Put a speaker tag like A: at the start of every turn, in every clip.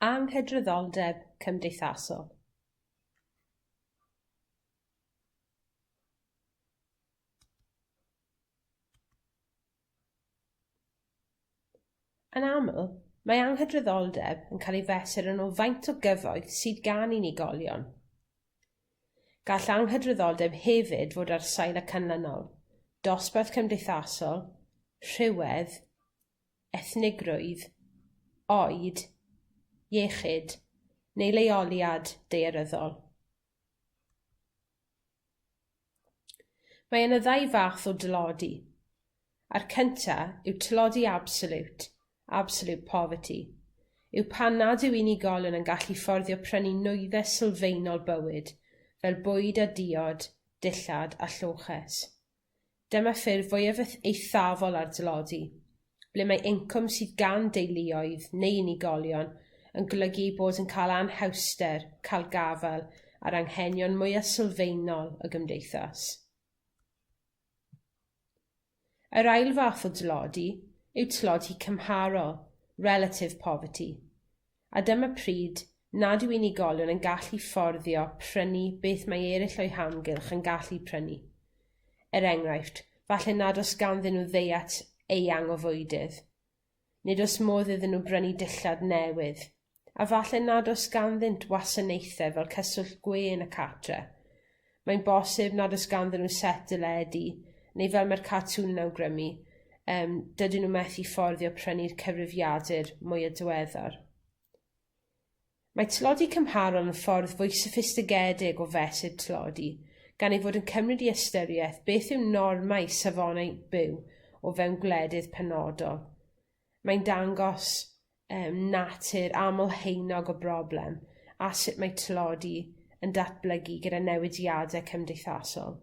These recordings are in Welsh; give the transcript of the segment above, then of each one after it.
A: Anghydraddoldeb cymdeithasol. Yn aml, mae anghydraddoldeb yn cael ei fesur yn ôl faint o gyfoeth sydd gan unigolion. Gall anghydraddoldeb hefyd fod ar sail y canlynol, dosbarth cymdeithasol, rhywedd, ethnigrwydd, oed, iechyd neu leoliad daearyddol. Mae yna ddau fath o dlodi, a'r cynta yw tlodi absoliwt, absolute poverty, yw pan nad yw unigolion yn gallu fforddio prynu nwyddau sylfaenol bywyd, fel bwyd a diod, dillad a lloches. Dyma ffurf fwyaf eth- eithafol ar dlodi, ble mae incwm sydd gan deuluoedd neu unigolion yn golygu eu bod yn ca'l anhawster ca'l gafael ar anghenion mwya sylfaenol y gymdeithas. Yr ail fath o dlodi yw tlodi cymharol, relative poverty. a dyma pryd nad yw unigolion yn gallu fforddio prynu beth mae eryll o'u hamgylch yn gallu prynu, er enghraifft, falle nad o's ganddyn nw ddiet eang o fwydydd, nid o's modd iddyn nw brynu dillad newydd, a falle nad o's ganddynt wasanaethe fel cyswllt gwên y cartre. mae'n bosib nad oes ganddyn nw set deledu, neu fel mae'r cartŵn yn awgrymu yym dydyn nw methu fforddio prynu'r cyfrifiadur mwya diweddar. Mae tlodi cymharol yn ffordd fwy soffistigedig o fesur tlodi gan ei fod yn cymryd i ystyrieth beth yw normau safonau byw o fewn gwledydd penodol. mae'n dangos yym natur aml-haenog y broblem a sut mae tlodi yn datblygu gyda newidiade cymdeithasol.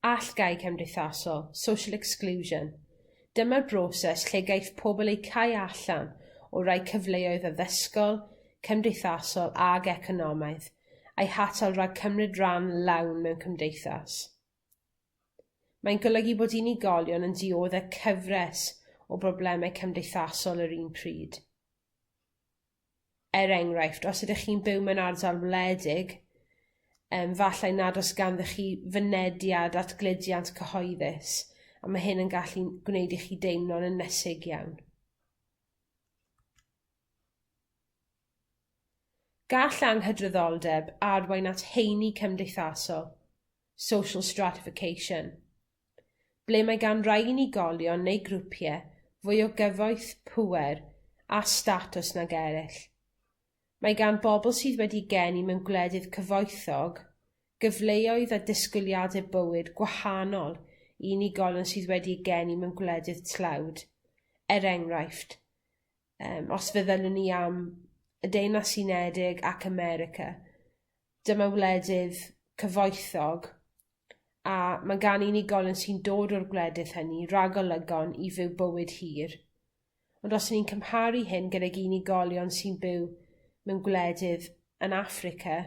A: Allgáu cymdeithasol, social exclusion, dyma'r broses lle gaiff pobl eu cau allan o rai cyfleoedd addysgol, cymdeithasol ag economaidd, a'u hatal rhag cymryd ran lawn mewn cymdeithas. Mae'n golygu bod unigolion yn diodde' cyfres o brobleme cymdeithasol yr un pryd, er enghraifft os ydych chi'n byw mewn ardal wledig yym falle nad o's ganddoch chi fynediad at gludiant cyhoeddus a ma' hyn yn gallu'n gwneud i chi deimlo'n ynysig iawn. Gall anghydraddoldeb arwain at heini cymdeithasol, social stratification, ble mae gan rai unigolion neu grwpie fwy o gyfoeth, pŵer a statws nag eryll, mae gan bobol sydd wedi geni mewn gwledydd cyfoethog gyfleoedd a disgwyliade bywyd gwahanol i unigolion sydd wedi eu geni mewn gwledydd tlawd, er enghraifft, yym os feddylen ni am y Deyrnas Unedig ac America, dyma wledydd cyfoethog, a ma' gan unigolion sy'n dod o'r gwledydd hynny ragolygon i fyw bywyd hir, ond os 'yn ni'n cymharu hyn gydag unigolion sy'n byw mewn gwledydd yn Affrica,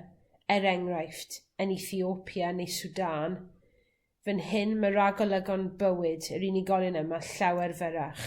A: er enghraifft, yn Ethiopia neu Sudan, fyn hyn ma' ragolygon bywyd yr unigolion yma llawer fyrrach.